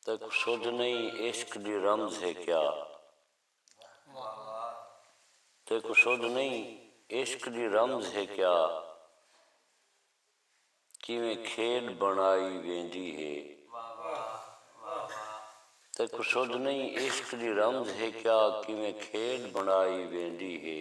تک سدھ نئیں عشق دی رمز ہے کیا تیکوں سدھ نئیں عشق دی رمز ہے کیا کیویں کھیݙ بݨائی ویندی ہے تیکوں سدھ نئیں عشق دی رمز ہے کیا کیویں کھیݙ بݨائی ویندی ہے۔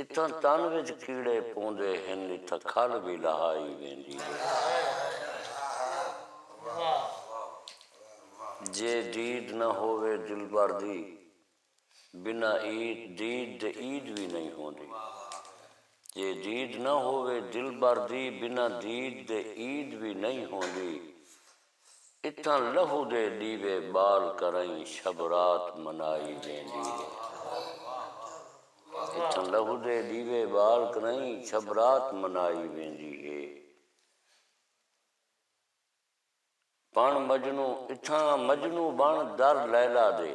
اتھاں تن وچ کیڑے پوندے ہن اتھاں کھل وی لہائی ویندی ہے جے دید نہ ہووے دلبر دی بنا عید دید دے عید وی نئیں ہوندی جے دید نہ ہووے دلبر دی بنا دید دے عید وی نئیں ہوندی اتھاں لہو دے ݙیوے ٻال کرئیں شب رات منائی ویندی ہے۔ اتھاں لہو دے ݙیوے ٻال کرئیں شب رات منائی ویندی ہے۔ بݨ مجنوں اتھاں مجنوں بݨ در لیلا دے۔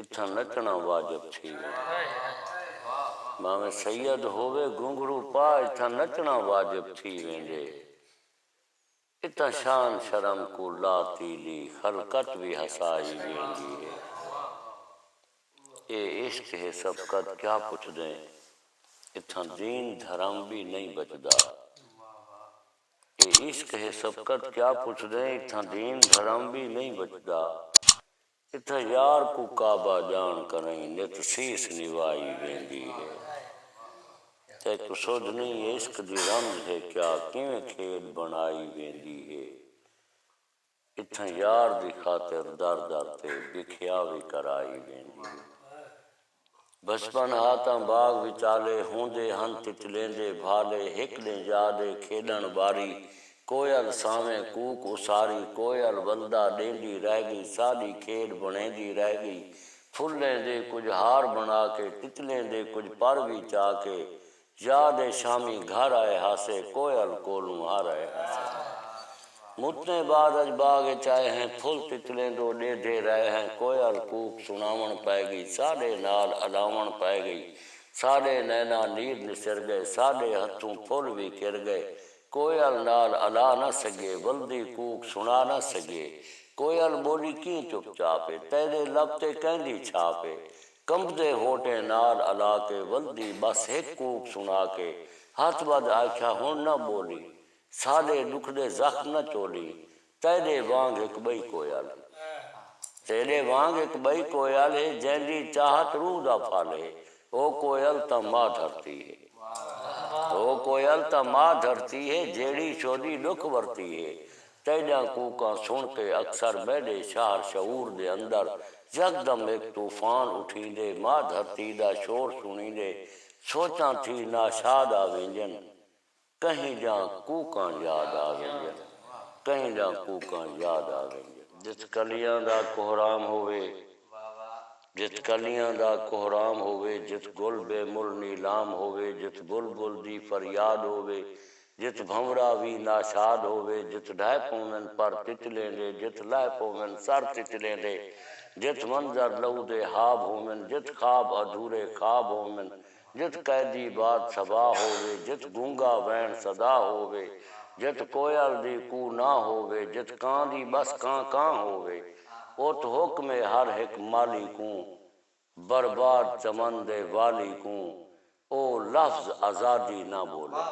اتھاں نچݨا واجب تھی ویندے۔ بھانویں سید ہووے گھنگھرو پا اتھاں نچݨا واجب تھی ویندے۔ اتھاں شان شرم کوں لا تیلی خلقت وی ہسائی ویندی ہے۔ اے عشق ہے سبقت کیا پچھدیں اتھاں دین دھرم وی نئیں بچدا۔ اے عشق ہے سبقت کیا پچھدیں اتھاں دین دھرم وی نئیں بچدا۔ اتھاں یار کوں کعبہ جان کنئیں نت سیس نوائی ویندی ہے تیکوں سجھ نئیں عشق دی رمز ہے کیا کیویں کھیݙ بݨائی ویندی ہے اتھاں یار دی خاطر در در تے بکھیا وی کرائی ویندی ہے۔ بچپن ہا تاں باغ وچالے ہوندے ہن تتلیندے بھالے ہک ݙینہہ یاد اے کھیݙݨ باری کوئل سانویں کوک اساری کوئل ولدا ݙیندی رہ ڳئی ساݙی کھیݙ بݨیندی رہ ڳئی پھلیں دے کجھ ہار بݨا کے تتلیں دے کجھ پر وی چا کے یاد اے شامی گھر آئے ہاسے کوئل کولوں ہر آئے ہاسے متیں بعد اج باغ اچ آئے ہیں پھل تتلیں دو ڈے دے رائے ہیں کوئل کوک سناون پائے گئی ساڈے نال الاون پائے گئی ساڈے نینا نیر نسر گئے ساڈے ہتھوں پھل وی کر گئے کوئل نال الا نہ سگے ولدی کوک سنا نہ سگے کوئل بولی کیں چپ چاپ اے تیڈے لب تے کیندی چھاپ اے کنبدے ہونٹیں نال الا کے ولدی ٻس ہک کوک سݨا کے ہتھ ٻدھ آکھیا ہݨ نہ ٻولی ساݙے ݙکھ دے زخم نہ چولی تیݙے وانگ ہک ٻئی کوئل ہے تیݙے وانگ ہک ٻئی کوئل ہے جیندی چاہت روح دا پھل ہے او کوئل تاں ماء دھرتی ہے او کوئل تاں ماء دھرتی ہے جیڑھی شودی ݙکھ ورتی ہے تیݙیاں کوکاں سݨ تے اکثر میݙے شاہر شعور دے اندر یکدم ہک طوفان اٹھیندے، ما دھرتی دا شور سݨیندے سوچاں تھی ناشاد آ ویندین، کہیں دیاں کوکاں یاد آ ویندین، کہیں دیاں کوکاں یاد آ ویندین۔ جت کلیاں دا کوہرام ہووے، جت کلیاں دا کوہرام ہووے، جت گل بے مل نیلام ہووے، جت بلبل دی فریاد ہووے، جت بھنورا وی ناشاد ہووے جت ڈھائے پوون پر تچلیں دے جت لائے پوون سر تچلیں دے جت منظر لہو دے حاب ہوون جت خواب ادھورے خواب ہوون جت قیدی باد صبا ہووے جت گونگا وین صدا ہووے جت کوئل دی کو نا ہووے جت کاں دی بس کاں کاں ہووے ات حکم ہے ہر ہک مالی کوں برباد چمن دے والی کوں او لفظ آزادی نہ بولے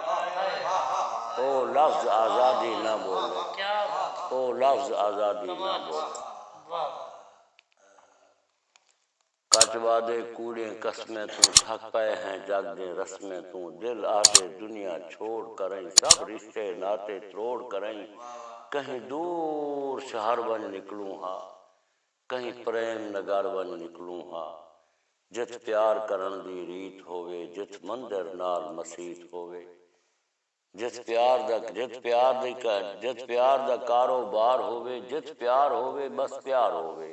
او لفظ آزادی نہ بولے او لفظ آزادی نہ بولے کچ وعدے کوڑیں قسمیں توں تھک پئے ہیں جگ دیں رسمیں توں دل آہدے دنیا چھوڑ کرئیں سب رشتے ناتے تروڑ کرئیں کہیں دور شہر ونج نکلوں ہا کہیں پریم نگر ونج نکلوں ہا۔ جتھ پیار کرݨ دی ریت ہووے جتھ مندر نال مسیت ہووے۔ جتھ پیار دا جتھ پیار دی جتھ پیار دا کارو بار ہووے جتھ پیار ہووے بس پیار ہووے۔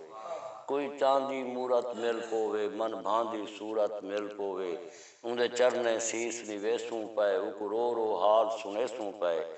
کوئی چاندی مورت مل پووے من بھاندی صورت مل پووے۔ اوندے چرنیں سیس نویسوں پئے اوکوں رو رو حال سݨیسوں پئے۔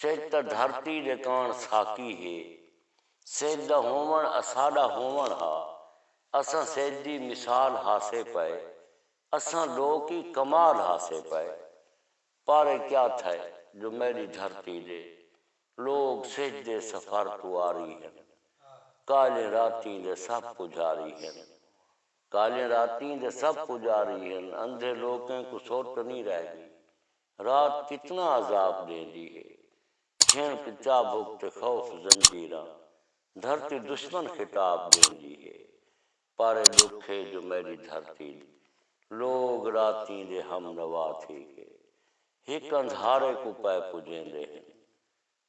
سجھ تاں دھرتی دے کاݨ ساقی ہے سجھ دا ہووݨ اساݙا ہووݨ ہا اساں سجھ دی مثال ہاسے پئے اساں لوک ای کمال ہاسے پئے پارے کیا تھئے جو میݙی دھرتی دے لوک سجھ دے سفر توں آری ہن کالھیں راتیں دے سب پجاری ہن کالھیں راتیں دے سب پجاری ہن اندھے لوکیں کوں سٹ نی رہ ڳی رات کتنا عذاب ݙیندی ہے کھیݨ کوں چابک تے خوف زنجیراں دھرتی دشمن خطاب ݙیندی ہے پر اے ݙکھ ہے جو میݙی دھرتی دے لوگ راتیں دے ہم نوا تھی کے ہک اندھارے کوں پئے پڄیندے ہن